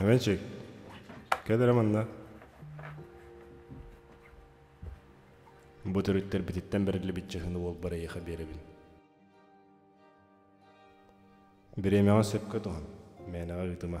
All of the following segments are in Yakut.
Эвенчик, кэлэрэ манна. Бу төрүттэрбититтэн бэриллибит чыһыны уолбар эйиэхэ биэрэбин. Бириэмэҕэ сөпкө туһан, мээнэҕэ ыытыма.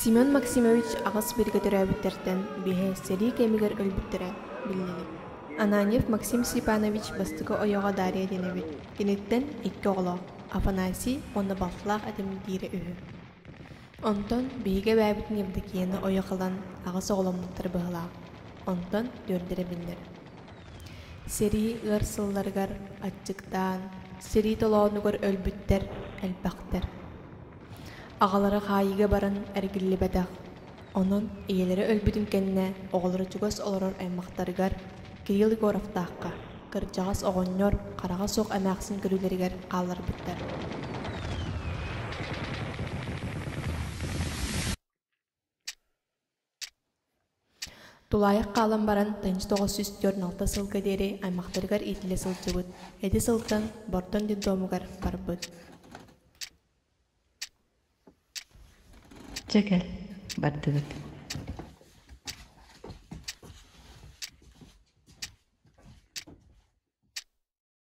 Семен Максимович аҕыс бииргэ төрөөбүттэртэн биэһэ сэрии кэмигэр өлбүттэрэ биллибит. Ананьев Максим Степанович бастакы ойоҕо Дария диэн эбит. Киниттэн икки оҕолоох Афанасий уонна Балфлах этим диирэ үһү. Онтон биһиги эбээбитин Евдокияны ойох ылан аҕыс оҕоломмуттара быһылаах. Онтон түөрдэрэ биллэр. Сэрии ыар сылларыгар аччыктаан, сэрии толоонугар өлбүттэр элбэхтэр. Аҕалара хаайыыга баран эргиллибэтэх, онон ийэлэрэ өлбүтүн кэннэ оҕолоро чугас олорор аймахтарыгар Кирилл Егоровтаахха кырдьаҕас оҕонньор хараҕа суох эмээхсин көрүүлэригэр хаалларбыттар тулаайах хаалан баран тынч тоҕус сүүс түөрт алта сылга диэри аймахтарыгар иитиллэ сылдьыбыт ити сылтан бордон детдомугар барбыт дьэ кэл бардыбыт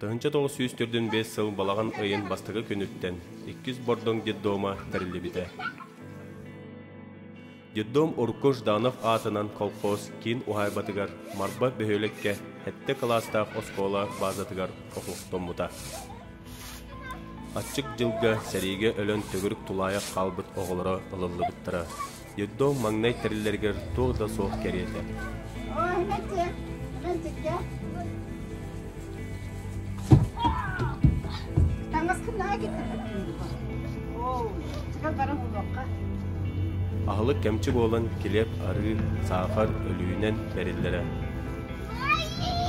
Тыһыынча тоҕус сүүс төрдүн биэс сыл балаҕан ыйын бастакы күнүттэн иккис бордоҥ детдома тэриллибитэ. Детдом урукку Жданов аатынан колхоз киин уһаайбатыгар Марба бөһүөлэккэ сэттэ кылаастаах оскуола баазатыгар оһохтоммута. Аччык дьылга сэриигэ өлөн төгүрүк тулаайах хаалбыт оҕолоро ылыллыбыттара. Детдом маҥнай тэриллэригэр туох да суох кэриэтэ. Аһылык кэмчи буолан килиэп, арыы, саахар өлүүнэн бэриллэрэ.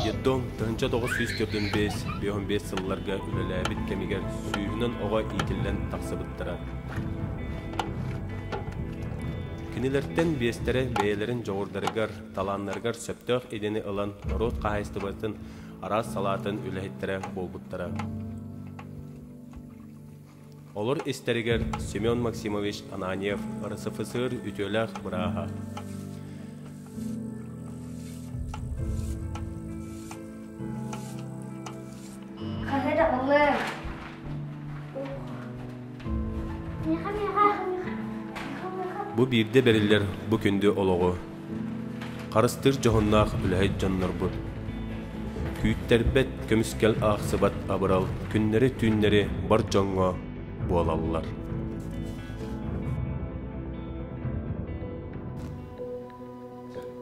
Детдом тыһынча тоҕус сүүс төрдүн бэс, беһун бэс сылларга үлэлээбит кэмигэр сүүһүнэн оҕо иитиллэн тахсыбыттара. Кинилэртэн биэстэрэ бэйэлэрин дьоҕурдарыгар, талааннарыгар сөптөөх идэни ылан норуот хаһаайыстыбатын араас салаатын үлэһиттэрэ буолбуттара. Олор истэригэр Семен Максимович Ананьев РСФСР үтүөлээх бырааһа. Хаһы да ылыам. Бу биирдэ бэриллэр бу күндү олоҕу харыстыыр дьоһуннаах үлэһит дьоннорбут. Күүттэрбэт, көмүскэл аахсыбат абырал күннэри-түүннэри бар дьоҥҥо буолаллар.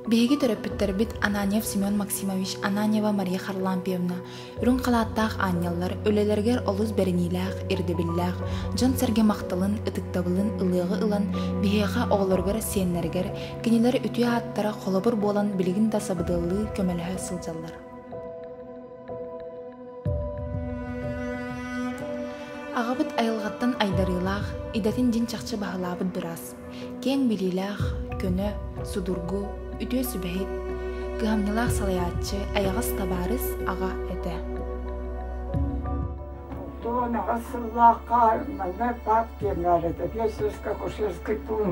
Биһиги төрөппүттэрбит Ананьев Семен Максимович, Ананьева Мария Харлампьевна, үрүҥ халааттаах аанньаллар, үлэлэригэр олус бэриниилээх, ирдэбиллээх, дьон-сэргэ махталын, ытыктабылын ылыаҕы ылан, биһиэхэ оҕолоругар, сиэннэригэр, кинилэр үтүө ааттара холобур буолан билигин да сабыдыаллыы көмөлөһө сылдьаллар. Аҕабыт айылҕаттан айдарыылаах, идэтин дьин чахчы баһылаабыт быраас. Киэҥ билиилээх, көнө, судургу, үтүө сүбэһит, кыһамньылаах салайааччы, айаҕас табаарыс аҕа этэ. Тоон аҕа сыллаах хаарманы пап киэҥээрэтэ, пьесуска кушерский тун.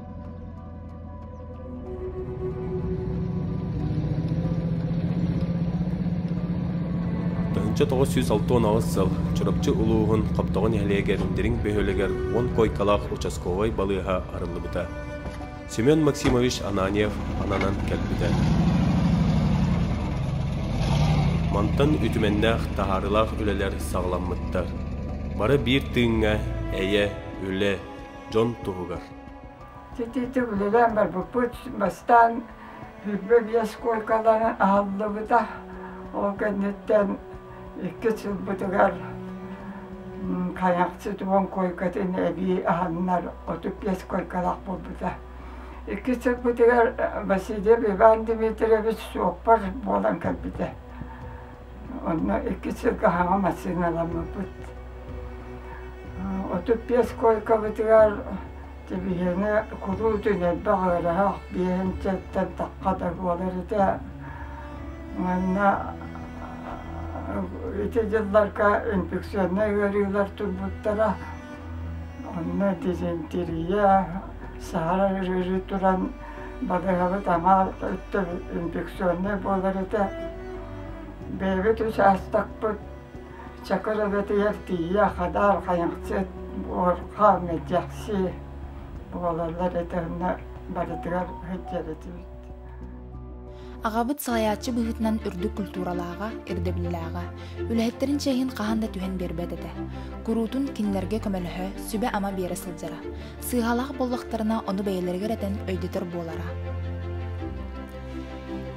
Тыһыынча тоҕус сүүс алта уон сыл Чурапчы улууһун Хоптоҕо нэһилиэгэр Дириҥ бөһүөлэгэр уон куойкалаах участковай балыыһа арыллыбыта. Семен Максимович Ананьев ананан кэлбитэ. Мантан үтүмэннээх таһаарыылаах үлэлэр саҕаламмыттар. Бары биир тыыҥҥа эйэ, үлэ, дьон туһугар. Чичичи үлэлээн барбыппыт. Бастаан Бүлбэ биэс куойкаларын аһыллыбыта. Ол кэнниттэн иккис сылбытыгар хайахчы туон куойкатын эбии аһаннар отут биэс куойкалаах буолбута. Иккис сылбытыгар Васильев Иван Дмитриевич суоппар буолан кэлбитэ. Онно икки сылгаһаҕа массыыналаммыппыт. Отут биэс куойкабытыгар дивизияны куруутун элбэх ыараһах биэһэнчэттэн тахха да буолар этэ. Манна ити дьылларга үҥкүксүөннэй ыарыылар турбуттара. Онно дизентерия, саһарар ыарыы туран Бадаһабыт аҥаар өттөбүт инфекционнай буолар этэ. Бэйэбит учаастакпыт чакыр эбэтигэр тиийэ хадаар хайыҥчыт, буорха, мэдьэкси буолаллар этэ, онно барытыгар сылдьар этибит Аҕабыт салайааччы быһыытынан үрдүк культуралааҕа, ирдэбиллээҕэ, үлэһиттэрин чээһин хаһан да түһэн биэрбэт этэ. Куруутун кинилэргэ көмөлөһө, сүбэ-ама биэрэ сылдьара. Сыыһалаах буоллахтарына, ону бэйэлэригэр этэн өйдөтөр буолара.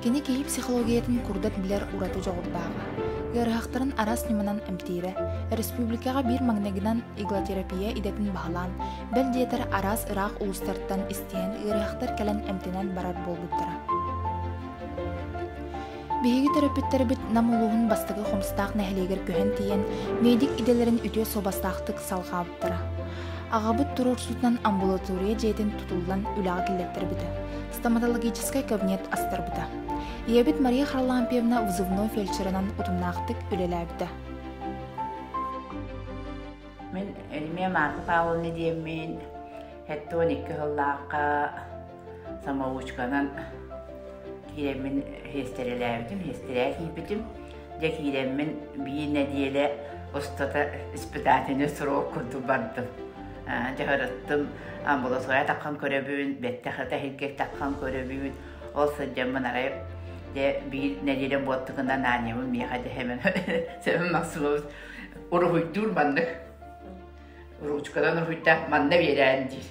Кини киһи психологиятын курдат билэр ураты дьоҕурдааҕа. Ыарыһахтарын араас ньыманан эмтиирэ, республикаҕа биир магнагынан иглотерапия идэтин баһылаан, бэл диэтэр араас ыраах улуустартан диэн ыарыһахтар кэлэн эмтэнэн барар буолбуттара. Биһиги төрөппүттэрбит Нам улууһун бастакы Хомстаах нэһилиэгэр көһөн тиийэн медик идэлэрин үтүө суобастаахтык салҕаабыттара. Аҕабыт туруорсуутунан амбулатория дьиэтин тутуллан үлэҕэ киллэртэрбитэ. Стоматологическай кабинет астарбыта. Ийэбит Мария Харлампьевна взывной фельдшерынан утумнаахтык үлэлээбитэ. Мин Эльмия Марта Павловна диэммин Сэттэ уон икки сыллаахха самоучканан киирэммин миэстэрэлээбитим, миэстэрээ киирбитим. Дьэ киирэммин биир нэдиэлэ устата испытательный срок курдук бардым. Дьаһарыттым, амбулатория таххан көрөбүн, бэттэх эһиргик таххан көрөбүн. Ол сылдьаммын арай дьэ биир нэдиэлэ буоттугунан аанньабын миэхэ дэһэмэн сөбүм максимум уруһуйдуур маннык ручканан уруһуйда манна биэрээн диир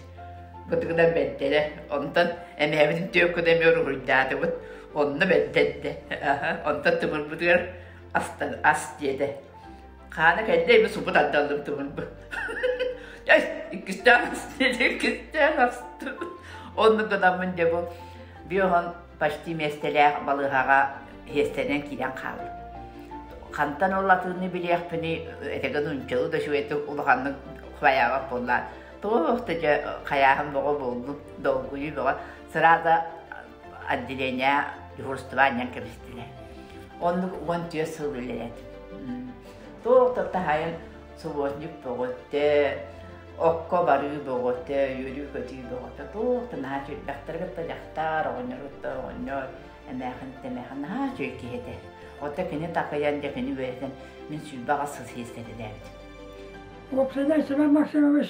бытыгынан бэрдэрэ онтон эмээбитин түөккүнэ эмиэ уруһуйдаатыбыт онно бэрдэрдэ онтон тымырбытыгар астан ас диэтэ хаана кэллэ ими субу тардаллым тымырбы иккистээн ас диэтэ иккистээн астым оннук гынаммын диэбу биоһон почти миэстэлээх балыыһаҕа иһиэстэнэн киирэн хаалла. Хантан ол латыынны билиэхпиний, этэгэн унчалы да үчүгэйдик улаханнык хаяабат буоллаан. Туох да дьэ хайааһын боҕо буоллун, долгуйу бөҕө. Сразу отделение дежурстваанньан кэбистилэр. Оннук уон түөрт сыл үлэлэт. Туох да таһайан субботник бөҕөтө, окко барыы бөҕөтө, үөрүү-көтүү бөҕөтө, туох наһаа сүүрбэхтэргитэ дьахтар оҕонньоруттан оҕонньор эмээхин-тэмээхин наһаа үчүгэй киһи этэ. Отто кини такыйан дьэ кини үөрэтэн мин сүүрбэҕэ сыс иэскэтилээбитим. Владимир Семен Максимович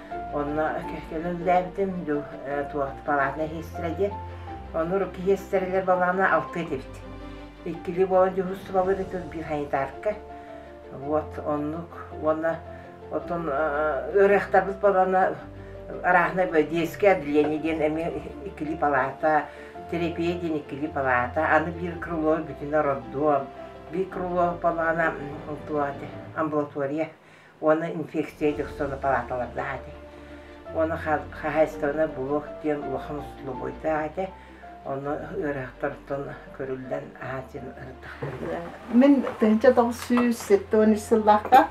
Онно кэллим дуу палатный иһиттилэ диэн. Ону киһиэстэрилэр балаана алты этибит. Иккилии буолан дьуһустубалыыр ытыл биир санитарка. Вот оннук уонна оттон ыарыахтарбыт балана араахынай детское отделение диэн эмиэ иккилии палата, терапия диэн иккилии палата, аны биир крыло бүтүнэ роддом, биир крыло балана амбулатория уонна инфекция дьохсоно палаталардаах этэ. Уону хаһаайыстыбаны блок диэн улахан условийтаах этэ. Ону ыарахтартан көрүллэн аһааччын ырыттахтарга. Мин тыһынча тоҕсүүс сэттэ он үс сыллаахта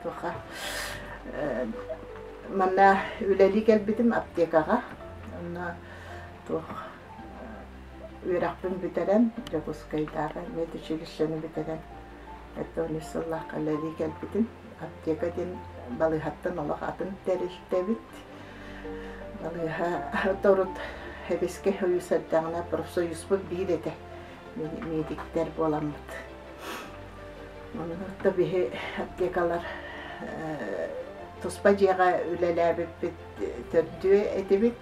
туха манна үлэлии кэлбитим аптекаҕа. Онно туох үөрэхпин бүтэрэн Дьокуускайдааҕы медучилищены бүтэрэн Это үс сыллаах кэлэрии кэлбитим. Аптека диэн балыыһаттан олох атын тэрилтэбит. Балыыһа торут Эбискэ союз эрдэҕинэ профсоюзбут биир этэ. Медиктэр буоламмыт. Онно биһи аптекалар туспа дьиэҕэ үлэлээбиппит төрдүө этибит.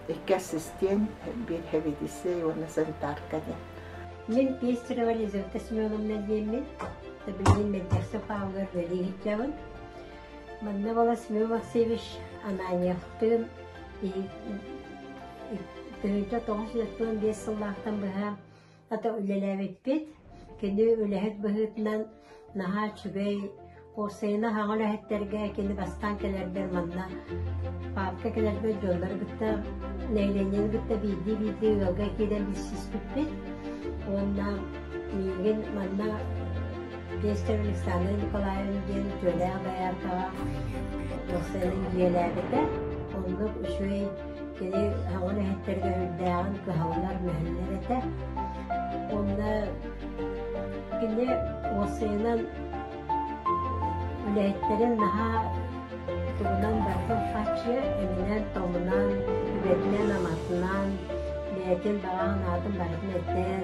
Икки ассистент, биэдһэбиэтиссэй уонна санитарка диэн. Мин Пестерова Лизавета Семеновна диэммин, билигин Меддехсов Павлыгар үлэлииһиччэбин. Манна бала Семен Максимович Ананьевтыын тыһыынча тоҕус үс сыллаахтан быһа Хата үлэлээбиппит. Кини үлэһит быһыытынан наһаа үчүгэй Курсайына хаҥа үлэһиттэргэ кини бастаан кэлэрбэр манна паапка кэлэрбэр дьоннор кытта нэилэнньэн кытта биирдии биирдии ыалга киирэн билсиспиппит уонна миигин манна Пестер Александр Николаевна диэн дьөлөөх дояркаҕа Курсайынан дьиэлээбитэ. Оннук үчүгэй Кини оҕо үлэһиттэргэ үрдээҕин кыһаллар, үөһэннэр этэ. Онно кини уоссайынан үлэһиттэрин наһаа тугунан барытын фаччы эминэн-томунан, үбэтинэн-аматынан, бэйэтин баҕа санаатын барытын этэн,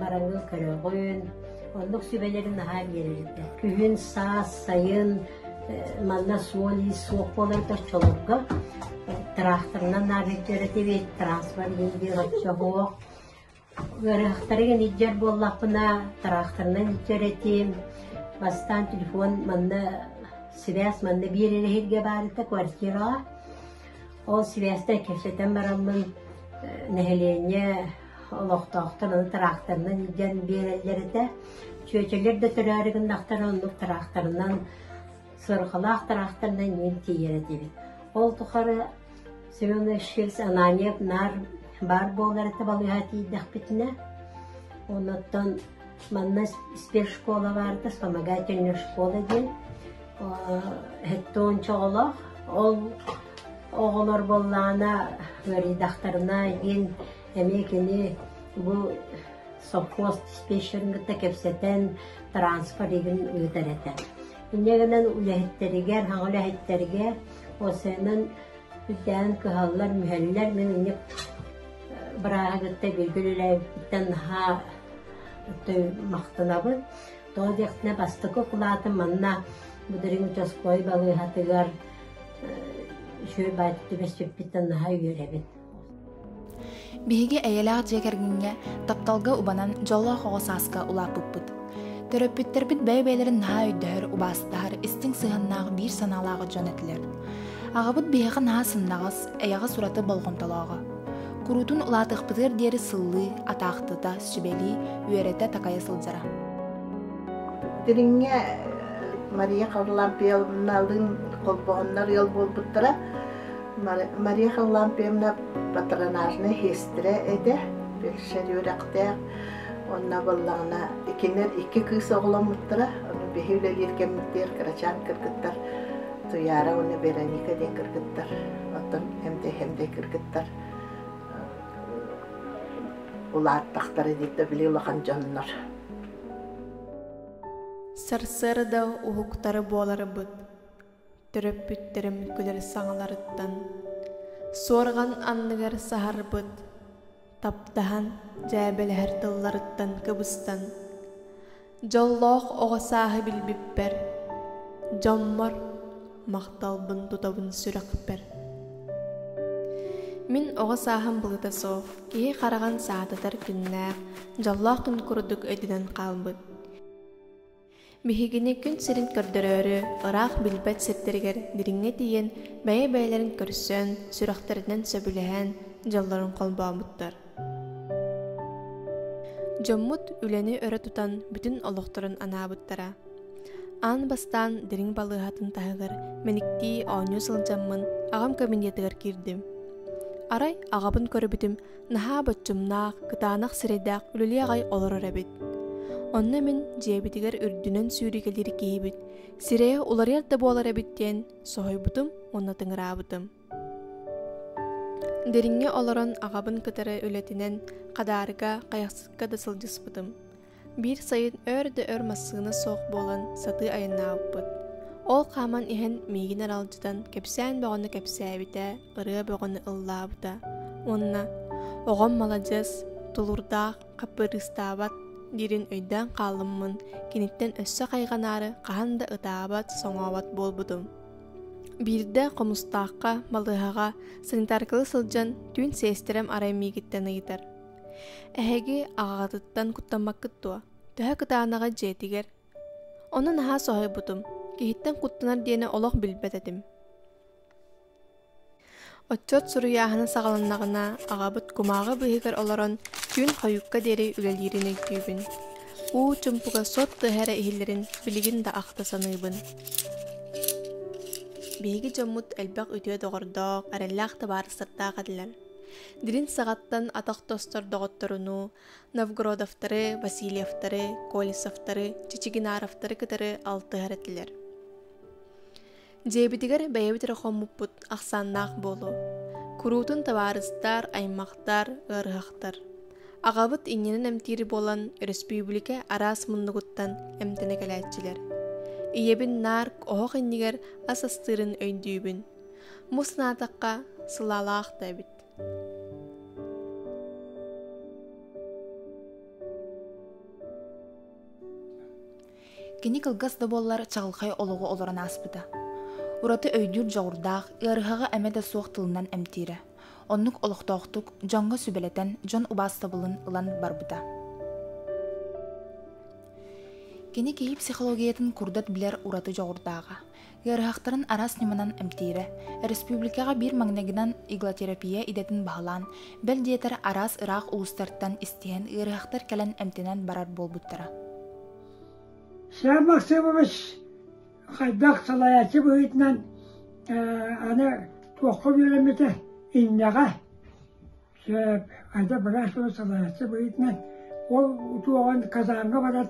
бараҥҥын көрөҕүн, оннук сүбэлэрин наһаа биэрэрдэ. Күһүн, саас, сайын манна суол-иис суох буоларга чолопко тракторынан наарыйдыра тибит, транспорт диир оччоһуох. Ыарахтарыгын иддер буоллахпына, тракторынан иддер этим. Бастан телефон манна сибээс манна биэрер эһирге баарыта квартираға. Ол сибээстэн кэпсэтэн бараллын, нэһилиэнньэ олохтоохтор аны тыраахтарынан илдьэн биэрэллэр этэ. Чүөчэлэр да төрөөрү гыннахтара оннук тыраахтарынан, сырҕалаах тыраахтарынан иин тиийэр этибит. Ол тухары Семенович Фирс Анания наар баар буолар этэ балыыһа тиийдэхпитинэ, оннуттан Манна испир школа баарда, вспомогательная школа диэн эттэ ончо оҕолоох. Ол оҕолор боллаана ыарыйдахтарына диэн эмиэ кини бу совхоз диспетчерин кытта кэпсэтэн транспор игин ыытар этэ. Инньэ гынан үлэһиттэригэр, хаҥ үлэһиттэргэ, ол сэнэн Үрдээн кыһаллар, мүһэллэр. Мин инник бырааһы кытта бииргэ үлэлээбиппиттэн наһаа махтанабын. Тоҕо диэхтэрэ, бастакы кулаатым манна Будырыҥ учаской балыыһатыгар шүөр баайтыты бэсчиппиттэн наһаа үөрэбин. Биһиги эйэлээх дьиэ кэргэҥҥэ, тапталга убанан, дьоллоох оҕо сааска улааппыппыт. Төрөппүттэрбит бэйэ-бэйэлэрин наһаа өйдөһөр, убаастаһар, истиҥ сыһыаннаах, биир санаалаах дьон этилэр. Аҕабыт биһиэхэ наһаа сымнаҕас, эйэҕэс ураты болҕомтолооҕо. Куруутун улаатыахпытыгар диэри сыллыы, атаахтыта, сүбэлии, үөрэтэ-такайа сылдьара. Дириҥҥэ Мария Харлампьевналыын холбоһоннор ыал буолбуттара. Мария Харлампьевна патронажнай сестра этэ, першер үөрэхтээх. Онно боллаҕына кинилэр икки кыыс оҕоломмуттара. Ону биһи үлэлиир кэммиттиэр Карачаан кыргыттар Туяра уонна Вероника диэн кыргыттар. Оттон эмдэй эмдэй кыргыттар улааттахтара диирдэ били улахан дьоннор. Сарсыарда уһуктары буоларбыт төрөппүттэрим күлэр саҥаларыттан суорҕан анныгар саһарбыт таптаһан дьээбэлэһэр тылларыттан кыбыстан дьоллоох оҕо сааһы билбиппэр дьоммор махталбын тутабын сүрэхпэр мин оҕо сааһым былыта суох киһи хараҕын саататар күннээх дьоллоох күн курдук өтүнэн хаалбыт Биһигини күн сирин көрдөрөөрү ыраах билбэт сирдэригэр дириҥҥэ тиийэн бэйэ-бэйэлэрин көрсөн, сүрэхтэринэн сөбүлэһэн дьоллорун холбообуттар. Дьоммут үлэни өрө тутан бүтүн олохторун анаабыттара. Аан бастаан дириҥ балыыһатын таһыгар мэниктии оонньуу сылдьаммын аҕам кабинетыгар киирдим. Арай аҕабын көрүбүтүм наһаа боччумнаах кытаанах сирэйдээх үлэлии аҕай олорор эбит онно мин дьиэбитигэр үрдүнэн сүүрүкэлиир киһибит сирэйэ уларыйар да буолар эбит диэн соһуйбутум уонна тыҥыраабытым дириҥҥэ олорон аҕабын кытары үлэтинэн хадаарга хайахсыкка да сылдьыспытым Биир сайын өр да өр массыына суох буолан сатыы айаннаабыппыт. Ол хааман иһэн миигин аралдьытан кэпсээн бөҕөнү кэпсээбитэ, ырыа бөҕөнү ыллаабыта. Уонна «Оҕом маладьыс, тулурдаах, хаппырыыстаабат» диирин өйдөөн хаалыммын, киниттэн өссө хайҕанаары хаһан да ытаабат, соҥообот буолбутум. Биирдэ хомустаахха, балыыһаҕа санитаркалыы сылдьан түүн сиэстэрэм арай миигиттэн ыйытар. Эһиги аҕаҕытыттан куттаммаккыт дуо? Төһө кытаанаҕа дьиэтигэр? Ону наһаа соһуйбутум. Киһиттэн куттанар диэни олох билбэт этим. Отчуот суруйааһына саҕаланнаҕына, аҕабыт кумааҕы быыһыгар олорон түүн хойукка диэри үлэлиирин өйдүүбүн. Уу чумпуга сот тыаһа эрэ иһиллэрин билигин да ахта саныыбын. Биһиги дьоммут элбэх үтүө доҕордоох, эрэллээх табаарыстардаах этилэр. Дирин сағаттан атақ тостор доғотторуну, Новгородовтары, Васильевтары, Колесовтары, Чичигинаровтары кытары алтыһар этилер. Дьиэбитигэр бэйэбит эрэ хоммуппут ахсааннаах буолу. Куруутун табаарыстар, аймахтар, ыарыһахтар. Ағабыт иннинен эмтиир болан өрөспүүбүлүкэ араас муннугуттан эмтэнэ кэлээччилэр. Ийэбин нарк оһох иннигэр ас астыырын өйдүүбүн. мус наадакка сылаалаах да эбит кини кылгас да буоллар чаҕылхай олоҕу олорон ааспыта ураты өйдүүр дьоҕурдаах ыарыһаҕы эмэ да суох тылынан эмтиирэ оннук олохтоохтук дьоҥҥо сүбэлэтэн дьон убаастабылын ылан барбыта кини киһи психологиятын курдат билэр ураты дьоҕурдааҕа Ыарыһахтарын араас ньыманан эмтиирэ. Өрөспүүбүлүкэҕэ биир магнегынан иглотерапия идэтин баһылаан, бэл диэтэр араас ыраах улуустартан истиһэн ыарыһахтар кэлэн эмтэнэн барар буолбуттара. Сам Максимович хайдах салайааччы быһыытынан аны туохха үөрэммитэ иннэҕэ хайда быраас тылы салайааччы быһыытынан ол туоҕан казарга барар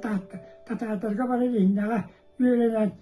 татаатарга барар иннэҕэ үөрэнэн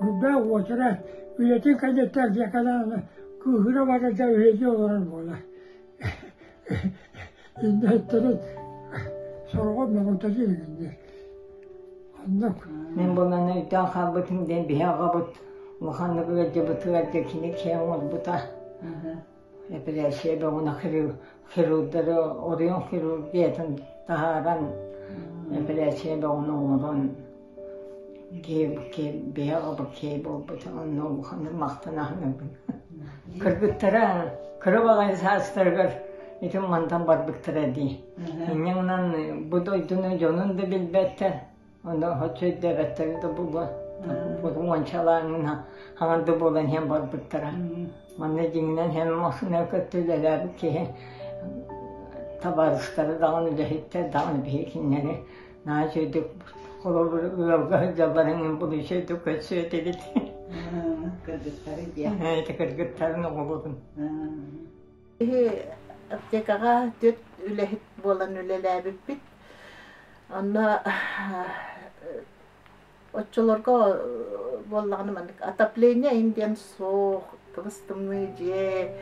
Бурда уотура үлэтин кэнниттэн Зеканааны кыыһыра баран да үлэлии олорор буолар иннэ өттөрүн сороҕор моҕолтото илигиннэр онно мин буоланы үтэн хаалбытым диэн биһи аҕабыт улаханнык ыалдьыбыт ыалдьа кини киэҥ уолбута эпилээссийэ бөҕөнө хирурдары орион хирургиятын таһааран эпилээссийэ бөҕөнү оҥорон киһи обук киһи буолбут онно улаханнык махтана кыргыттара кыра баҕайы саастарыгар итин мантан барбыттара дии инньэ гынан бу дойдуну дьонун да билбэттэр Онно өттөйдөөбөттөрө да була уончалааҥҥын хаҥар да буолан иһэн барбыттара. Манна дьиҥинэн һэм массыына кытта үлэлээбит киһи табаарыстары даҕаны үлэһиттэр даҕаны биһикиннэри наачыйдык холобур ыалга сылдьаллар эҥин булучайдык көрсүө этигит. Кыргыттары диэн. Ити кыргыттарын оҕолорун. Киһи аптекаҕа түөрт үлэһит буолан үлэлээбиппит. Онно оччолорго буоллаҕына маннык отопление им диэн суох кыбыстымныы дьиэ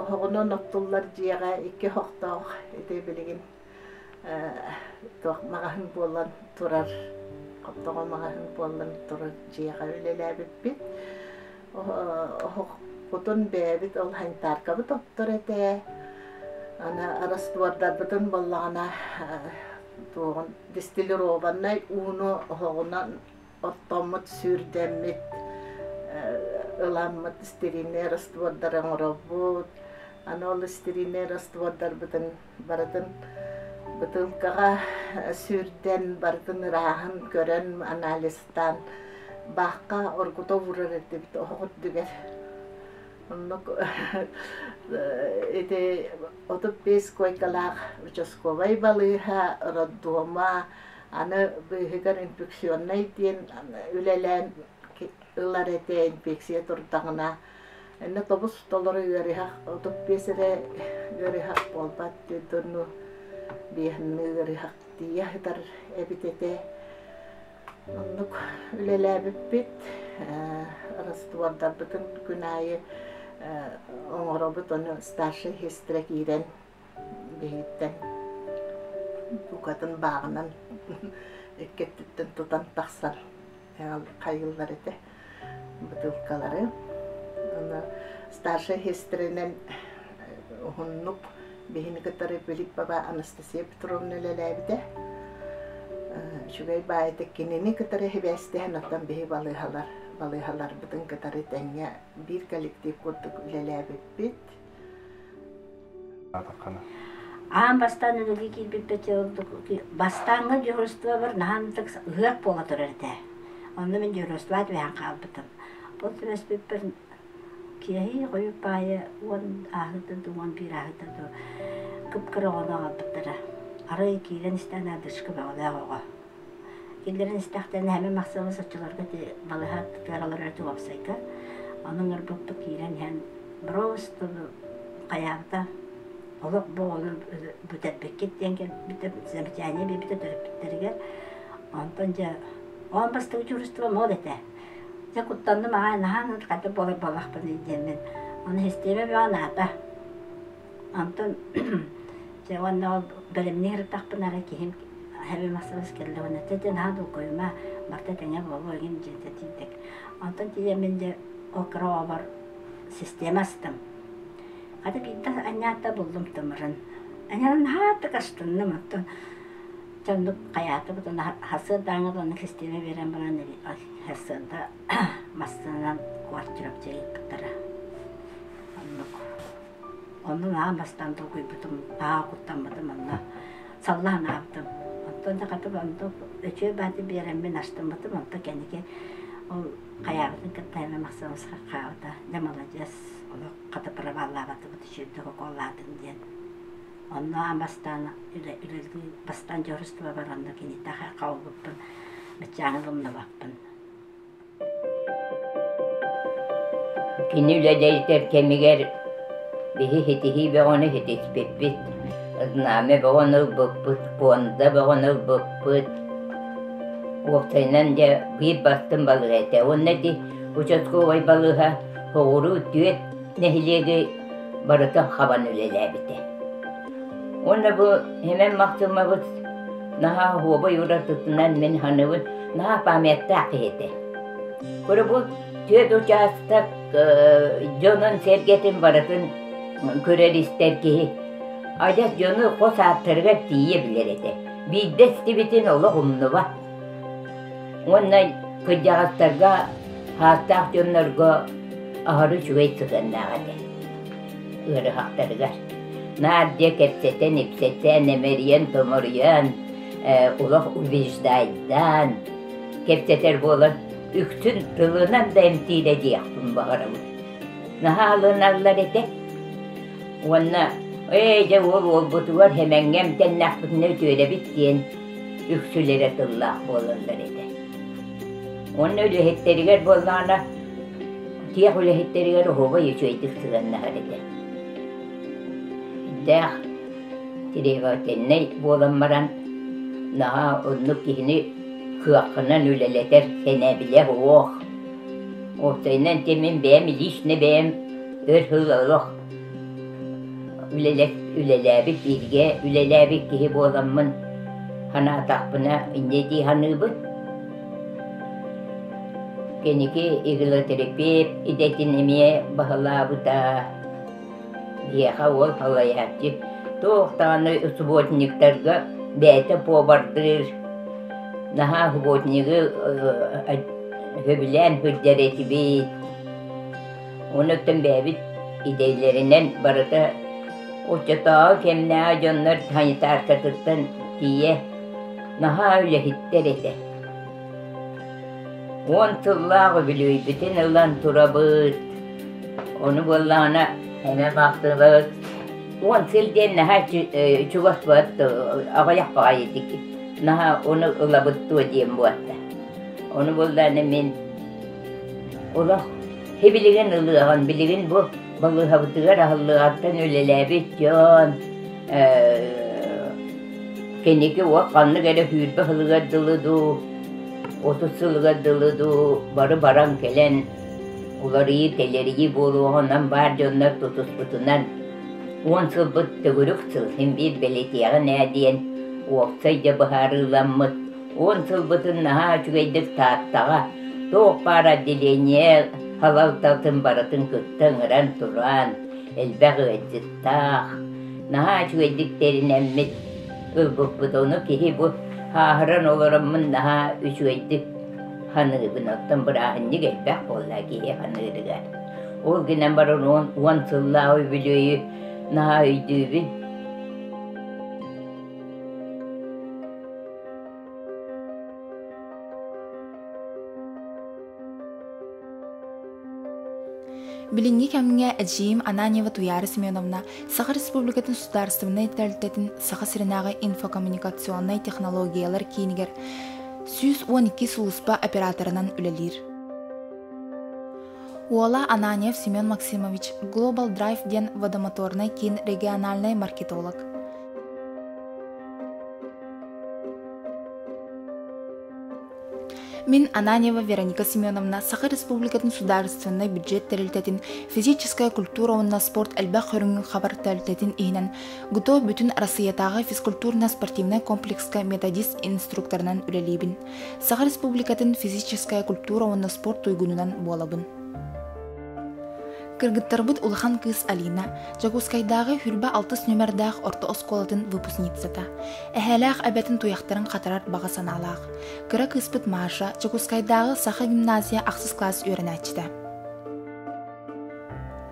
оһоҕунан оттуллар дьиэҕэ икки оһохтоох ити билигин туох маҕаһын буолан турар тоҕо маҕаһын буоллан турар дьиэҕэ үлэлээбиппит оһохпутун бэйэбит ол санитаркабыт оттор этэ аны араспыардарбытын буоллаҕына туоҕун дистиллированнай ууну оһоҕунан оттоммут сүүрдэммит ыламмыт стерильнэй араспыардары оҥоробут аны ол стерильнэй араспыардарбытын барытын бытыылкаҕа сүүрдэн барытын ырааһын көрөн анализтаан баахха оргута уурар этибит оһох үрдүгэр оннук ити отут бес койкалаах участковай балыыһа роддома аны быыһыгар инфекционнай диэн үлэлээн ылар этэ инфекция турдаҕына Нотобус толору ыарыһах отут биэс эрэ ыарыһах буолбат диэки онну биэһинни ыарыһах тиийэ сытар эбит этэ. Оннук үлэлээбиппит. Раствордарбытын күн аайы оҥоробут, ону старший сестра киирэн киһиттэн букатын бааҕынан икки өттүттэн тутан тахсан хайыллар этэ бытыылкалары старшай сестринэн уһуннук биһини кытары Филиппова Анастасия Петровна үлэлээбитэ үчүгэй баайыта кинини кытары хибээстэһэн оттон биһи балыыһалар балыыһаларбытын кытары тэҥҥэ биир коллектив курдук үлэлээбиппит аан бастаан өлөргө киирбиппит бастааҥҥы дьуһурустуба бар наһаа ынтык ыһыах буола турар этэ онно мин дьуһурустуба түбэһэн хаалбытым ол түбэспиппэр киэһи хойут паайы уон ааһыыта да уон биир ааһыыта да кып-кыра оҕону аҕалбыттара арай киирэн истээн аадырышка бөҕөлөөх оҕо Кинилэрин истэхтэринэ Хэмин Махсыалы соччолорго балыһат тыаралар өрүтү уопсайга. Онон ырбыппыт киирэн иһэн просто хайаанта олох бу олор бүтэрбиккит диэн замечание бибите төрөппүттэригэр онтон же он бастыгы чуурустуба мол этэ же куттандым аҕай наһаан хата буолар боллахпын диэммин оны система бөҕө наата Онтон дьэ уонна ол бэлэмнии сырыттахпына эрэ киһим heavy massage кэллэ уонна дьэ дьэ наһаа долгуйума барта тэҥэ буолуо игин диэн сэтиитик онтон тиийэммин дьэ ол кыраҕабар система астым хата биирдэ анньаатта буллум тымырын анньан наһаа так астынным оттон чоннук хайаатыбыт уна сырдааҥҥа уонна система биэрэн баран сырда массыынанан квартирабчы ыыппыттара оннук Онно наһаа бастаан толкуйбутум, наһаа куттаммытым онно. Саллаан аабытым. Онтон да хатык онто өтүө баати биэреммин астыммытым, онто кэники ол хайаабытын кытта эмэ махсыбыска хаабыта. Дьэ маладьыас, олох хата правааллаабатыбыт үчүгэйдик укуоллаатым диэн. Онно аан бастаан үлэ үлэлии бастаан дьоруустуба баран онно киниттэн хаалбыппын, баччааҥҥы умнубаппын. Кини үлэ дьайытар кэмигэр биһи ситиһии бөҕөнү ситиспиппит, знамя бөҕөнү ылбыппыт, пуонда бөҕөнү ылбыппыт. Уопсайынан дьэ биир бастыҥ балыыһа этэ. Уонна ити участковай балыыһа соҕуруу түөрт нэһилиэги барытын хабан үлэлээбитэ. Уонна бу һимэн махтыммыбыт наһаа оһуобай уратытынан мин саныыбын наһаа памяттаах киһи этэ. Куру бу түөрт учаастак дьонун-сэргэтин барытын көрөр-истэр киһи адьас дьону хос ааттарыгар тиийэ билэр этэ. Биирдэ истибитин олох умнубат. Уонна кырдьаҕастарга, саастаах дьоннорго аһары үчүгэй сыһыаннаах этэ. ыарыһахтарыгар Нардия кэпсэтэн ипсэтэн эмэрийэн томоруйан олох убеждайдаан кэпсэтэр буолан үксүн тылынан да эмтиирэ диэхпин баҕарабын наһаалыналлар этэ уонна ээ дьэ уол уолбутугар эмэҥҥэ эмтэннэхпитинэ үтүөлэбит диэн үксүлэрэ тыллаах буолаллар этэ уонна үлэһиттэригэр буоллаҕына Тиэх үлэһиттэригэр оһуобай үчүгэйдик сыһыаннаһар этэ. Дээх требовательнай буолан баран, наһаа оннук киһини кыаххынан үлэлэтэр сэнэбилэ суох. Уопсайынан те мин бэйэм лично бэйэм өр сыл олох үлэлээбит бииргэ үлэлээбит киһи буоламмын санаатахпына инньэ дии саныыбын. Киники иглотерапевт идэтин эмиэ баһылаабыта. Биһиэхэ уол салайааччы туох даҕаны субботниктарга бэйэтэ повардыыр, наһаа субботнигы сөбүлээн сылдьар этибит. Онуттан бэйэбит идэлэринэн барыта оччотооҕу кэмнээҕи дьоннор санитаркатыттан тиийэ наһаа үлэһиттэр этэ уон сыллаах үбүлүөйбүтүн ылан турабыт ону буоллаҕына эмэ бахтыбыт уон сыл диэн наһаа чугас буолат аҕыйах баҕайытык наһаа ону ылабыт дуо диэн буолта ону буоллаҕына мин олох һи билигин ылыаҕын билигин бу Балыыһабытыгар аһыллыгартан үлэлээбит дьон, киниги уот ханнык эрэ сүүрбэ сылыгар дылы дуу, отут сылыгар дылы дуу бары баран кэлэн уларыйыы, тэлэрийии буолуоҕа онон баар дьоннор тутуспутунан уон сылбыт төгүрүк сыл син биир бэлэтиэҕин ээ диэн уопсай да быһаарыыламмыт уон сылбытын наһаа үчүгэйдик Тааттаҕа туох баар отделение салалтатын барытын кытта ыҥыран тураан элбэх ыалдьыттаах, наһаа үчүгэйдик тэринэммит ылбыппыт. Ону киһи бу ааһыран олороммун наһаа үчүгэйдик саныыбын. Оттон бырааһынньык элбэх буолла киһи саныырыгар. Ол гынан баран уон, уон сыллаах үбүлүөйү наһаа өйдүүбүн. Билиҥҥи кэмҥэ эдьиийим Ананьева Туяра Семеновна Саха Республикатын судаарыстыбынай тэрилтэтин Саха сиринээҕи инфокоммуникационнай технологиялар киинигэр сүүс уон икки сулуспа операторынан үлэлиир. Уола Ананьев Семен Максимович Global Drive диэн водомоторнай киин региональнай маркетолог. Мин Ананьева Вероника Семеновна Саха Республикатын судаарыстыбаннай бюджет тэрилтэтин физическая культура уонна спорт элбэх көрүҥүн хабар тэрилтэтин иһинэн ГТО бүтүн Арассыыйатааҕы физкультурно-спортивнай комплекска методист инструкторынан үлэлиибин. Саха Республикатын физическая культура уонна спорт туйгунунан буолабын. Кыргыттарбыт улахан кыыс Алина, Дьокуускайдааҕы Хүлбэ-алтыс нүмердээх орто оскуолатын выпускницата. Эһээлээх эбэтин туйахтарын хатарар баҕа санаалаах. Кыра кыыспыт Маша Дьокуускайдааҕы саха гимназия ахсыс класс үөрэнээччитэ.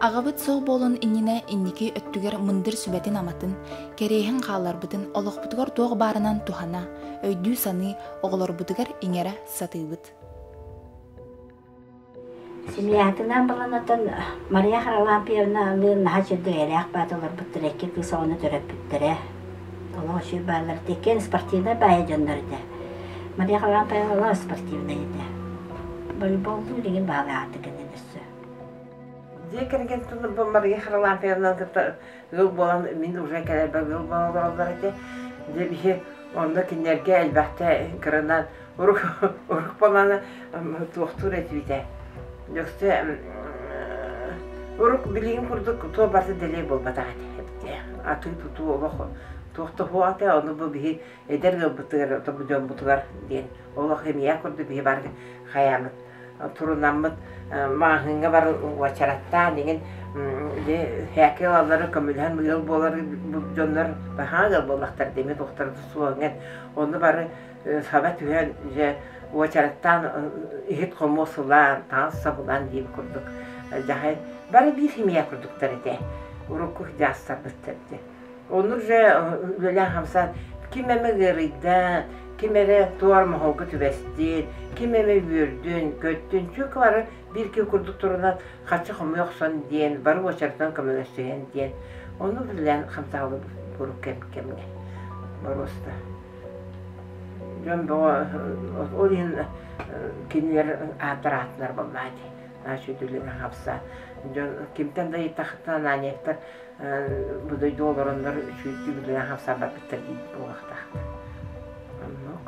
Аҕабыт сох буолан иннинэ инники өттүгэр мындыр сүбэтин-аматын, кэриэһин хаалларбытын олохпутугар туох баарынан туһана, өйдүү-саныы оҕолорбутугар иҥэрэ сатыыбыт. Семьятынан баланатан Мария Харлампьевна алыын наһаа чэбдик эйэлээх баата олорбуттара икки кыыс оҕону төрөппүттэрэ. Олох үчүгэй баалларыт иккиэн спортивнай баайа дьоннор этэ. Мария Харлампьевна олох спортивнай этэ. Волейболлуу илигин баалаахтык этэ өссө. Дьиэ кэргэн тылларбын Мария Харлампьевнаны кытта ыал буолан мин уже кэлэрбэр ыал буолаллар ити дьэ биһи онно кинилэргэ элбэхтэ кырынан урук урук болана туохтуур этибитэ дьоксө урук билигин курдук туо барыта дэлэй буолбатах ити атыы тутуу олох туохта хуо ате ону бу биһи эдэр ыалбытыгар отобу дьоммутугар диэн олох эмиэ курдук биһи бары хайаамыт турунаммыт маҕаһыыҥҥа бар уочараттаан иҥин или хээки ылаллары көмөлөһөн быйыл буолар дьоннор баһаа ыал буоллахтар демит тухтар суоҥҥын ону бары саба түһэн дьэ уочараттаан иһит хомуос ылаан таҥас сабылаан диир курдук дьаһай бары биир химия курдуктар этэ урукку дьаастарбыттар Ону же үлэлээн хамсаан ким эмэ ыарыйда, ким эрэ туор моһолго түбэстин, ким эмэ үөрдүн, көттүн, чүөкэ бары биир-икки курдук турунан хаччы хомуйа охсон диэн, бары уочаратынан көмөлөссүһэн диэн, ону үлэлээн хамсаабыт куруук кэм кэмҥэ боруоста. Дьон бөҕө ол иһин кинилэр ааттар аатынар буоллаҕа дии. Значит, үлэлээн хамсаан дьон кимтэн да ыйытахтына Ананиевтар Бу дойду олороннор үчүгэйдик үлэйэн хамсаабаппыттар дии буолуохтаахтар. Оннук.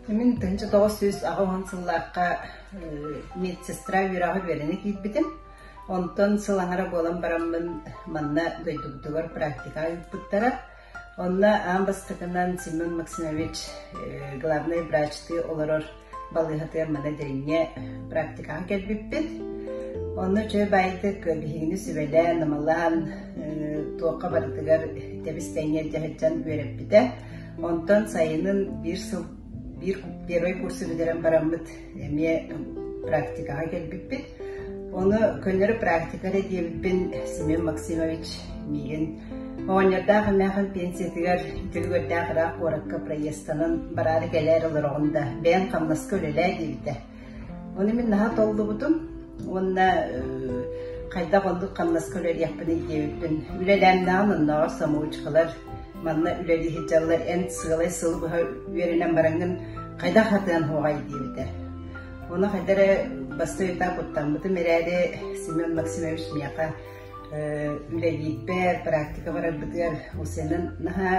Мин тынчы тоҕус сүүс аҕа уһун сыллаахха медсестра үөрэҕи үөрэнэ киирбитим. Онтон сыл аҥара буолан бараммын манна дойдубутугар практика ыыппыттара. Онно аан бастакынан Семен Максимович главнай врачтыы олорор балыыһатыгар маны дэҥҥэ практикаҕа кэлбиппит. Онно чөл баайытык биһигини сүбэлээн, намалаан, туохха барытыгар тэбис-тэҥҥэ дьаһаччан үөрэппитэ. Онтон сайынын биир сыл биир первый курсу бүтэрэн бараммыт эмиэ практикаҕа кэлбиппит. Оны көннөрү практика эрэ диэбиппин Семен Максимович миигин оҕонньордаах эмээхин пенсиятыгар Дьөлүгэрдээх ыраах куоракка проезданан бараары кэлээр олороҕун да бэйэн хамнаска үлэлээ диэбитэ. Оны мин наһа толлубутум уонна хайдах оннук хамнаска үлэлиэхпиний диэбиппин үлэлээмнэҕин оннооҕор самоучкалар Манна үлэлии сылдьаллар эн сыалай сылы быһа үөрэнэн бараҥҥын хайдах атыан суоҕай диэбитэ. Оны хайдары бастыы үйэтэ куттаммытым эрээри Семен Максимович миэхэ үлэлиирбэр, практика барарбытыгар усенын наһаа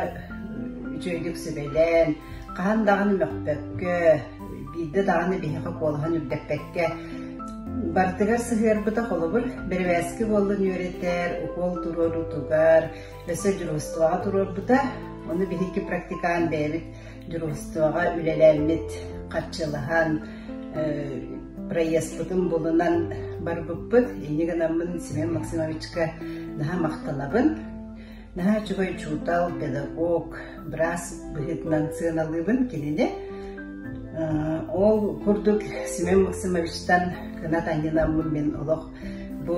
үчүгэйдик сүбэлээн, хаһан даҕаны мөхпөккө, биирдэ даҕаны биһиэхэ куолаһын үрдэппэккэ бартыгар сыһыарбыта холобур бэрбээски буоллун үөрэтэр, укуол туруоруутугар, Өссө дьуруустубаҕа туруорбута. Ону биһикки практикаан бэйэбит дьуруустубаҕа үлэлээммит харчылаһан проездпытын булунан барбыппыт. Инньэ гынаммын Семен Максимовичка наһаа махталабын. Наһаа үчүгэй учуутал, педагог, быраас быһыытынан сыаналыыбын кинини. Ол курдук Семен Максимовичтан кынат анньынаммын мин олох Бу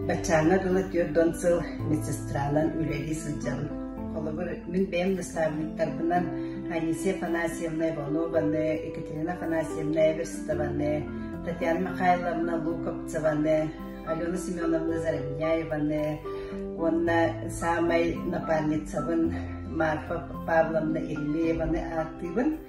баччаана дыла түөрт сыл медсестранан үлэлии сылдьабын. Холобур, мин бэйэм наставниктарбынан Анисия Афанасьевна Иванованы, Екатерина Афанасьевна Эверстованы, Татьяна Михайловна Луковцеваны, Алена Семеновна Заровняеваны уонна саамай напарницабын Марфа Павловна Иллееваны ааттыыбын.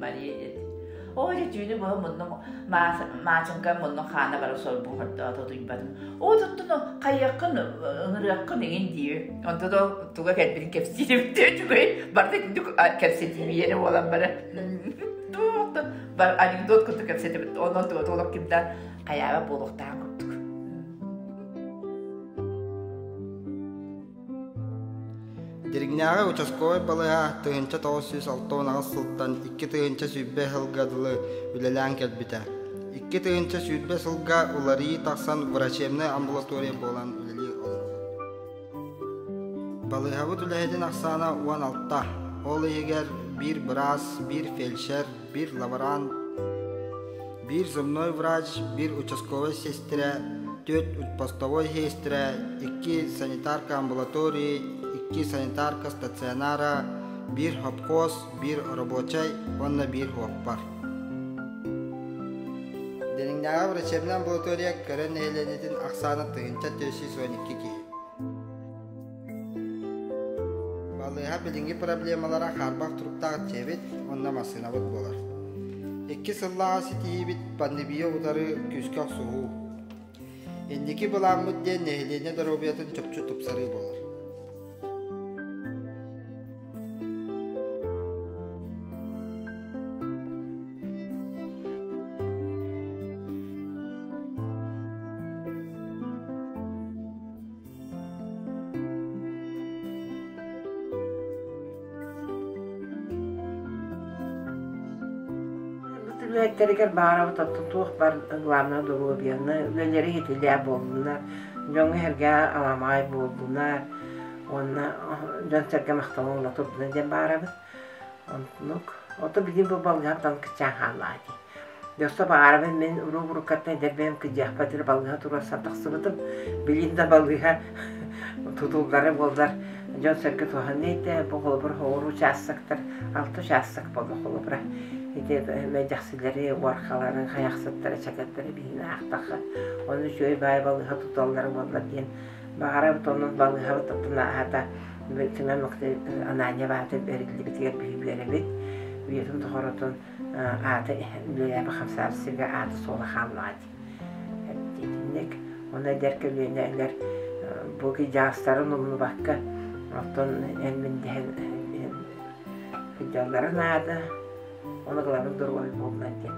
Мария диэт оо дьэ түүнү быһа муннум маачынка муннум хаана бара сорбухордоото утуйбатым оо туттуну хайыаххын ыҥырыаххын игин дии онто да туга кэлбитин кэпсиирибиттээ үчүгэй барда итинник кэпсэтиибииэни буолан бара анекдот курдук кэпсэтибит онон туга толок кимдэ хаява буолуохтаах курдук Диригнээҕи участковай балыһа тыһыынча тоҕус сүүс алта унаҕас сылтан икки тыһыынча сүүрбэ сылга дылы үлэлээн кэлбитэ. Икки тыһыынча сүүрбэ сылга уларыы тахсан врачебнай амбулатория буолан үлэлии олорор. Балыыһабыт үлэһитин ахсаана уон алта, ол иһигэр биир быраас, биир фельдшер, bir лаборант, биир земной врач, bir участковай сестра, төрт отпустовой сестра, икки санитарка амбулатории, икки санитарка стационара, bir hopkos, bir рабочай уонна bir уоппар. Денингдааҕы врачебная амбулатория көрөн нэһилиэнньэтин ахсаана тыһыынча төрт сүүс уон икки киһи. Балыыһа билиҥҥи проблемалара хаарбах туруктаах дьиэбит уонна массыынабыт буолар. Икки сыллааҕы ситиһиибит пандемия утары күүскэ охсуһуу. Инники былааммыт диэн нэһилиэнньэ доруобуйатын чопчу тупсарыы буолар. үбүлээттэригэр баарабыт оттон туох бар главное доруобуйаны үлэлэри иһитилээ буоллунар дьоҥҥо иһэргэ аламаҕай буоллунар уонна дьон-сэргэ махталын ула турдуна диэн баарабыт оннук ото били бу балгам тан кычаан хааллаа дии Дьахта баҕарабын мин уруу-уруккаттан эдэрбэм кыдьыахпат эрэ балыыһа туруор тахсыбытым. Билигин да балыыһа тутуллара буоллар дьон-сэргэ туһаныы этэ бу холобур оҕуруу учаастактар алта учаастак буолуох холобура. Ити эмэдьэхсилэри, уорхаларын, хайахсыттары, чэкэттэрэ билигин аахтахха ону үчүгэй баай балыыһа туталлара буоллар диэн баҕарабыт онон балыыһабыт аата кимэн махтай Анания баата бэриллибитигэр биһи үөрэбит үйэтин тухарытын ааты үөрээбэ хамсаабсыга аата-суола хааллаҕа дии итинник уонна эдэр көлүөнэ эдэр бу дьаастарын умнубакка оттон эн мин дэһэн сылдьалларын наада ону ылабын доруобай буолла диэн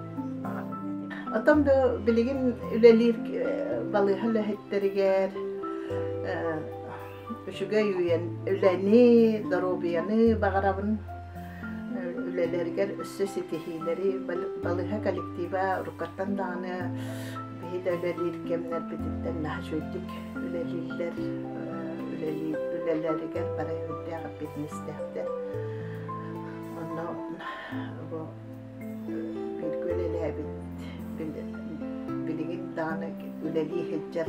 Отон билигин үлэлиир балыыһа үлэһиттэригэр үчүгэй үйэн үлэни, доруобуйаны баҕарабын. Үлэлэригэр өссө ситиһиилэри балыһа коллектива уруккаттан даҕаны биһи да үлэлиир кэмнэрбититтэн наһаа үчүгэйдик үлэлииллэр үлэлэригэр бары үрдээх бизнестээхтэр онно бииргэ үлэлээбит билигин даҕаны үлэлии сылдьар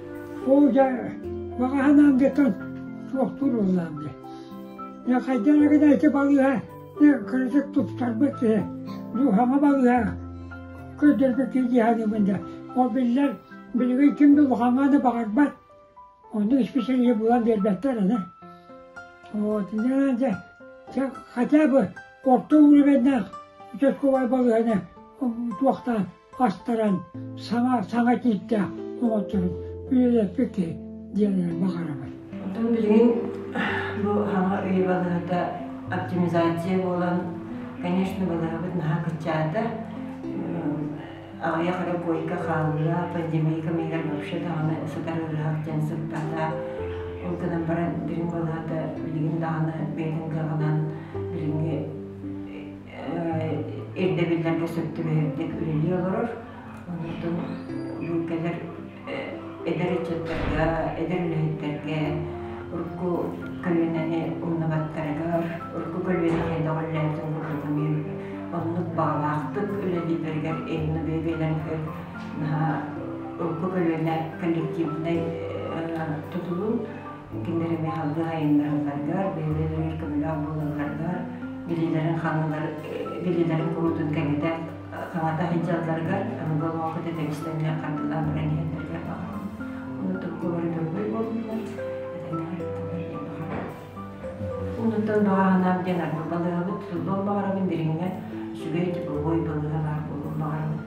Оо, дьэ, баҕаһынаан диэтэн туох туруулаам дии. Дьэ, хайдах эрэ ити балыыһа, дьэ, кыратык туттарбыт киһи, дууһама балыыһа көрдөрбүттүү дьиһаныыбын да. Ол биллэр, билигин ким да улахаҥааны баҕарбат, онно исписэлиһи булан биэрбэттэр аны. Вот, дьэ, дьэ, дьэ, хотя бы орто уулуменнаах участковай балыыһаны туохтаан астаран саҥа саҥа тииттээх оҥотторун үлэлэппит киһи диэнинэн баҕарабын. Оттон билигин бу хаҥа ый балаһата оптимизация буолан, конечно, балаһабыт наһаа кыччаата. Аҕыйах эрэ буойка хаалла, пандемийка миигэр вообще даҕаны сытар ыраах дьэн сыппата. Ол гынан баран, дириҥ балаһата билигин даҕаны бэйэтин кылаҕынан билиҥҥи ирдэбиллэргэ сөп түбэһэрдик үлэлии олорор. Оннуктан луҥкэлэр эдэр ыччаттарга, эдэр үлэһиттэргэ урукку көлүөнэни умнубаттарыгар, урукку көлүөнэни көҕүллээбитин курдук эмиэ оннук баҕалаахтык үлэлииллэригэр инно бэйэ-бэйэлэригэр наһаа урукку көлүөнэ коллективнай тутулун кинилэр эмиэ салгыы айаннаһалларыгар, бэйэлэригэр көмөлөөх буолалларыгар, билиилэрин ханыылар, билиилэрин куруутун кэҥэтэ, хаҥата сылдьалларыгар, аныгы олоҥхо тэтэбистэн эмиэ хардыылаан баран иһэллэригэр баҕарабын. Онутукка бары дөрвүй буоллулар, этэҥҥэ ырыттылар диэн баҕарабын. Онуттан баҕаһынаап диэн арба балыһабыт булуон баҕарабын, дириҥҥэ үчүгэй дипломой балыһа баар буолуон баҕарабын.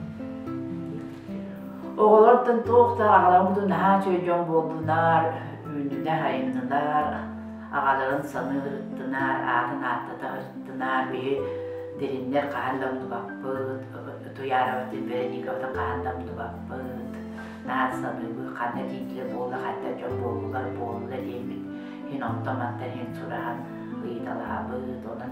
Оҕолортон туох да аҕаларбытын наһаа үчүгэй дьон буоллунар, үүннүнэр, айаннынар, аҕаларын саныырыттынар, аатын ааттатарыттынар, биһи дириннэр хаһан да умнубаппыт, Туйаароватын Вероникабытын хаһан да умнубаппыт, наар саныыбыт ханна дииллэр буолла, хантан дьон буоллулар буолла диэммит, иһин онтон-мантан иһин сураһан ыйыталаһабыт, онон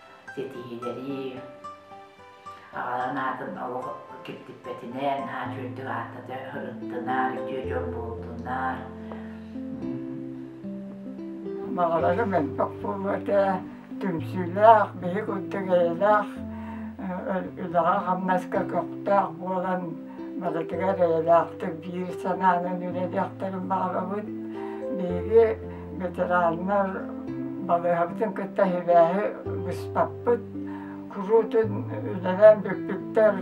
ситиһинэрии аҕаларын аатын олох киртиппэтинэн аан үрдүк аата ырыттынаар үтүө дьон буолтунаар баҕалара мөлтөх буолуо этэ түмсүүлээх биһи курдук эйэлээх үлэҕэ-хамнаска көхтөөх буолан барытыгар эйэлээхтик биир санаанан үлэлиэхтэрин баҕарабыт биһиги ветераннар балыыһабытын кытта сибээһи быспаппыт, куруутун үлэлээн бүппүттэр,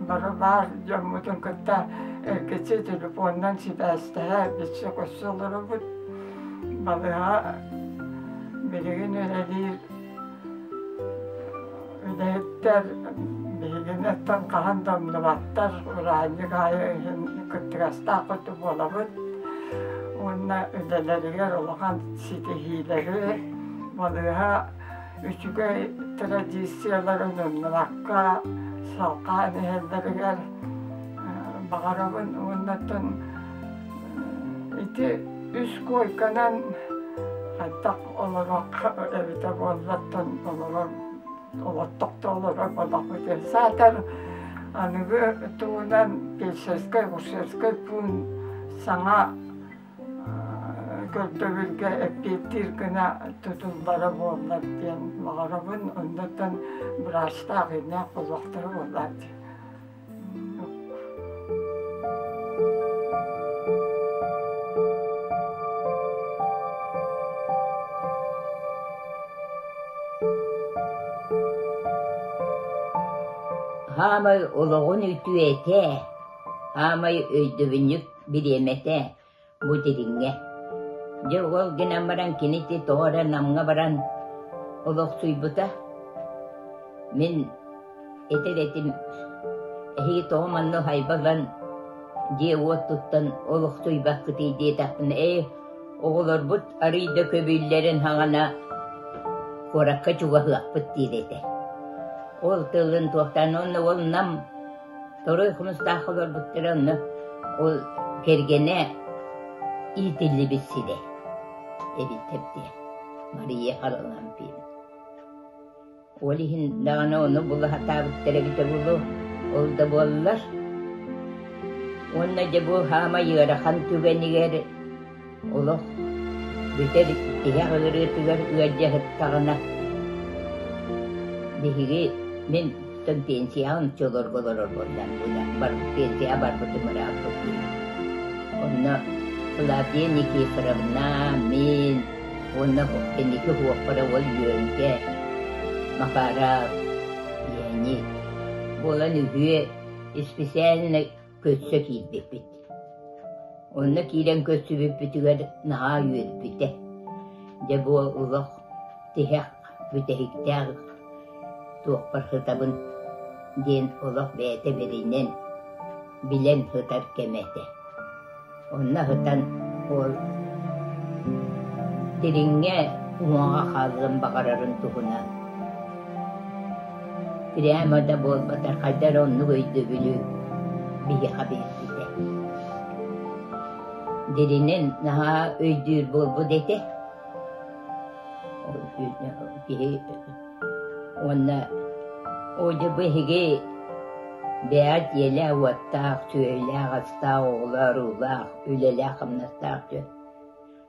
бары баар дьоммутун кытта эргиччи телефонунан сибээстэһэ бичси-кусса олоробут. Балыыһа билигин үлэлиир Үлэһиттэр биһигини оттон хаһан да умнубаттар, ураанньык аайы иһин кыттыгастаах курдук буолабыт уонна үлэлэригэр улахан ситиһиилэри, балыыһа үчүгэй традицияларын умнубакка салҕаан иһэллэригэр баҕарабын уоннаттан ити үс куойканан хайдах олоруохха эбитэ буоллаттан олорор олоттох да олорор бадахпыт саатар аныгы тугунан пельсерскай гусерскай пуун саҥа көрдөбүлгэ эппиэттиир гына тутуллара буоллар диэн баҕарабын оннуттан быраастаах ийэлээх олохторо буоллар Хаамай олоҕун үтүөтэ, хаамай өйдөбүнньүк бириэмэтэ Бу дириҥҥэ. Дьэ уол гынан баран кини ити тоҕо эрэ Намҥа баран олохсуйбута. Мин итир этим эһиги тоҕо манна уһайбаллан дьиэ-уот туттан олохсуйбаккытый диэтэхпинэ ээ оҕолорбут арыый да көбүллэрин хаҥана куоракка чугаһыахпыт диир этэ. Ол тылын туохтан уонна уол Нам Второй хонустаах олорбуттара онно ол кэргэнэ иитиллибит сирэ эбиттэр диye Мария Харлампин. Ол иһин даҕаны ону була сатаабыттара эбитэ булу ол да буоллар. Уонна дьэ бу хаама ыарахан түгэнигэр Олох бүтэ илик тиһэх ырыатыгар ыалдьыһыттаҕына, биһиги мин пенсияҕа ночолорго олорорбор пенсияҕа барбытым ырааппыт диэн. Онно Клавдия Никифоровна, мин уонна инники уоппара ол Үөҥкэ, Макара, Ени. Буолан үһүө исписээннэй көрсө киирбиппит. Онно киирэн көрсүбүппүтүгэр наһаа үөрбүтэ. Дьэ бу олох тиһэх, бүтэһиктээх туохпар сытабын диэн олох бэйэтэ бэринэн, билэн сытар кэмэ этэ. Онно сытан ол дириҥҥэ уҥаҕа хаалыан баҕарарын туһунан прямо да буолбатар хайдах эрэ оннук өйдөбүлү биһиэхэ биэрбитэ. Диринэн наһаа өйдүүр буолбут этэ. Киһи Уонна Одя биһиги бэйэт ийэлээх-уоттаах, сүөһүлээх-астаах, оҕолоох-уруулаах, үлэлээх-хамнастаах дьон.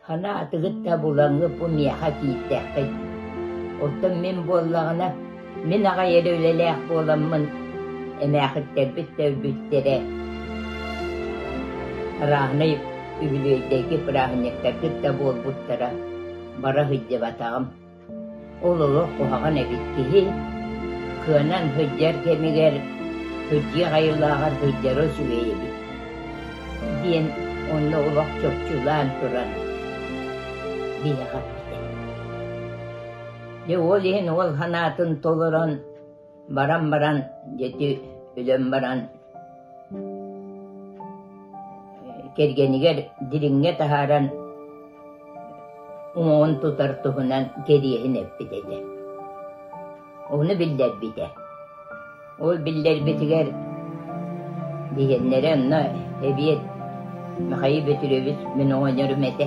Хана атыгыт да булаҥҥыт бу миэхэ киирдэххит. Оттон мин буоллаҕына, мин аҕай эрэ үлэлээх буоламмын, эмээхиттэрбит да өлбүттэрэ. Ырааһынай үбүлүөйдэрги бырааһынньыктаргыт да буолбуттара, бара сылдьыбатаҕым. Ол олох куһаҕан эбит киһи кыанан сылдьар кэмигэр сылдьыах айылааҕар сылдьара үчүгэй эбит диэн онно олох чопчулаан туран биһэҕэ эттэ. Дьэ, ол иһин уол санаатын толорон Баран баран дьэти өлөн баран кэргэнигэр дириҥҥэ таһааран уҥуоҕун тутар туһунан кэриэһин эппит этэ. Уну биллэрбитэ. Ол биллэрбитигэр диһеннэрэ онно эбиэт Михаил Петрович мин оҕонньорум этэ.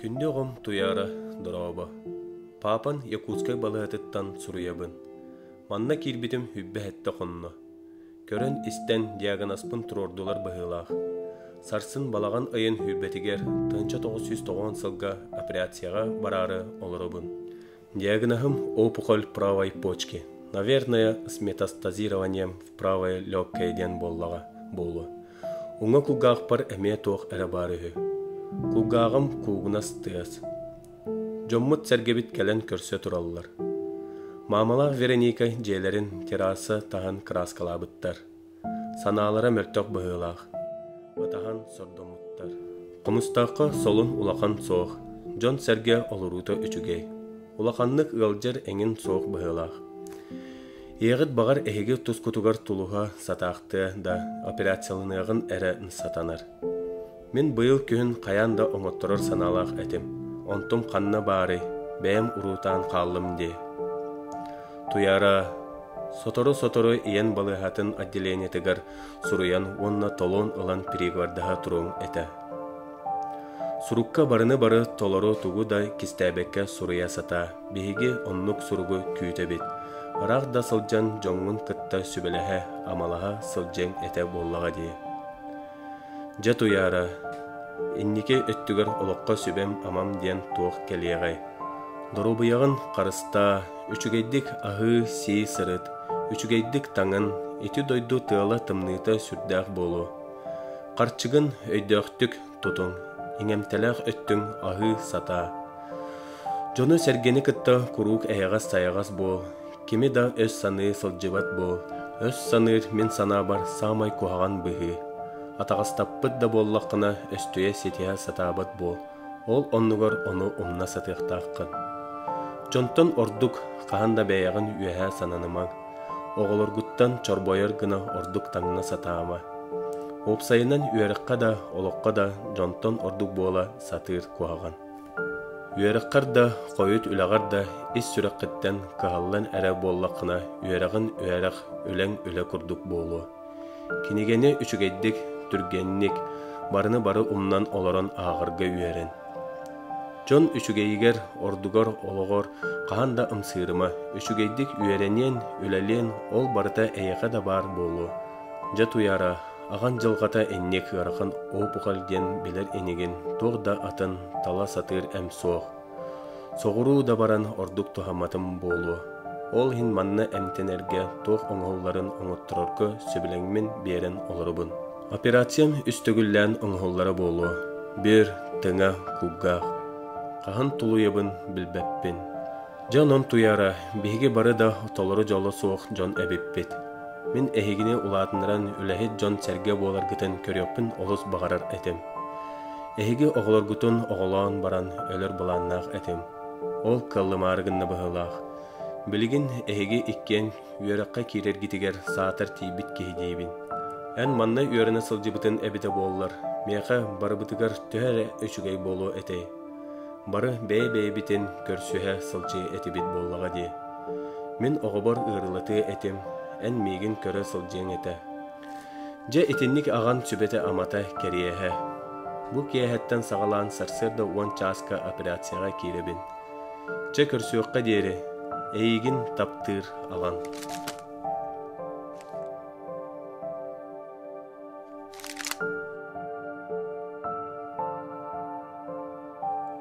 Күндү оҕом Туйаара, дорообо. Паапан Якутскай балаһатыттан суруйабын. Манна киирбитим үббэһэттэ хонно. Көрөн-истэн диагноспын туруордулар быһыылаах. Сарсын балаҕан ыйын үйбэтигэр тыһынча тоҕус сүүс тоҕоон сылга операцияҕа бараары олоробун. Диагноһым опухоль правой почки. Наверное, с метастазированием в правой легкой диэн буоллаҕа буолуо. Уҥа кулгаахпар эмиэ туох эрэ баар үһү. Кулгааҕым куугунас тыас. Дьоммут сэргэбит кэлэн көрсө тураллар. Маамалаах Вероника дьиэлэрин терраса таһын краскалаабыттар. Санаалара мөлтөх быһыылаах, батаһан сордомуттар. Хомустаахха солун улахан суох, дьон-сэргэ олоруута үчүгэй. Улаханнык ыалдьар эҥин суох быһыылаах. Ийэҕит баҕар эһиги тускутугар тулуһа сатаахтыа да, операцияланыаҕын эрэ сатанар. Мин быйыл күһүн хайаан да оҥотторор санаалаах этим, онтум ханна баарый, бэйэм уруутаан хааллым дии. Туйаара сотору-сотору ийэн балыыһатын отделениетыгар суруйан уонна толоон ылан перегвардаһа туруоҥ этэ. Сурукка барыны-бары толору тугу да кистээбэккэ суруйа сатаа. Биһиги оннук суругу күүтэбит. Ыраах да сылдьан дьоҥҥун кытта сүбэлэһэ, амалаһа сылдьыаҥ этэ буоллаҕа дии. Дьэ Туйаара, инники өттүгэр олоххо сүбэм-амам диэн туох кэлиэҕэй? Доруобуйаҕын харыстаа, үчүгэйдик аһыы-сии сырыт, үчүгэйдик таҥын, ити дойду тыала-тымныыта сүрдээх буолуо. Харчыгын өйдөөхтүк тутуҥ, иҥэмтэлээх өттүҥ аһыы сатаа. Дьону-сэргэни кытта куруук эйэҕэс-сайаҕас буол, Кими да өс саныы сылдьыбат буол, өс саныыр мин санаабар саамай куһаҕан быһыы. Атаҕастаппыт да буоллаххына, өстүйэ ситиһэ сатаабат буол, ол оннугар ону умна сатыахтааххын. Дьонтон ордук хаһан да бэйэҕин үөһээ сананымаҥ. Оҕолоргуттан чорбойор гына ордук таҥна сатаама. Уопсайынан үөрэххэ да, олоххо да дьонтон ордук буола сатыыр куһаҕан. Үөрэххэр да, хойут үлэҕэр да ис сүрэххиттэн кыһаллан эрэ буоллаххына, үөрэҕин үөрэх, үлэҥ-үлэ курдук буолуо. Кинигэни үчүгэйдик, түргэнник, барыны-бары умнан олорон ааҕарга үөрэн. Дьон үчүгэйигэр, ордугар, олоҕор хаһан да ымсыырыма, үчүгэйдик үөрэниэн, үлэлиэн, ол барыта эйиэхэ да баар буолуо. Дьэ, туйаара, Аҕаҥ дьылҕата инник ыарахан уопукал диэн билэр инигин туох да атын, тала сатыыр эм суох. Соҕуруу да баран ордук туһаматым буолуо. Ол иһин манна эмтэнэргэ туох оҥоһулларын оҥотторорго сөбүлэҥмин биэрэн олоробун. Операциям үс төгүллээн оҥоһуллара буолуо. Бир, тыҥа, кулгаах. Хаһан тулуйабын билбэппин. Дьэ онон туйаара, биһиги бары да толору дьоло суох дьон эбиппит. Мин эһигини улаатыннаран үлэһит дьон-сэргэ буоларгытын көрүөхпүн олус баҕарар этим. Эһиги оҕолоргутун оҕолоон баран өлөр былааннаах этим. Ол кыллымаары гынна быһыылаах. Билигин эһиги иккиэн үөрэххэ киирэргитигэр саатар тиийбит киһи диибин. Эн манна үөрэнэ сылдьыбытын эбитэ буоллар, миэхэ барыбытыгар төһө эрэ үчүгэй буолуо этэй. Бары бэйэ-бэйэбитин көрсүһэ сылдьыы этибит буоллаҕа дии. Мин оҕобор ыарыылатыы этим, эн миигин көрө сылдьыаҥ этэ. Дьэ итинник аҕам сүбэтэ-амата кэриэһэ. Бу киэһэттэн саҕалаан сарсыарда уон чааска операцияҕа киирэбин. Чэ көрсүөххэ диэри, эйигин таптыыр аҕам.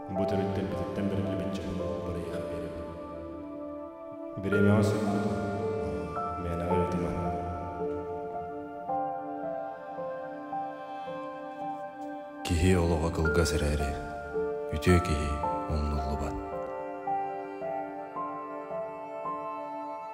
Бу төрүттэн бүтүттэн бэриллибит дьону барыйаан биэрэбин. Бириэмэҕэ сөхпүтүм, мээнэҕэ ыытымаҥ. Киһи олоҕо кылгас эрээри, үтүө киһи умнуллубат.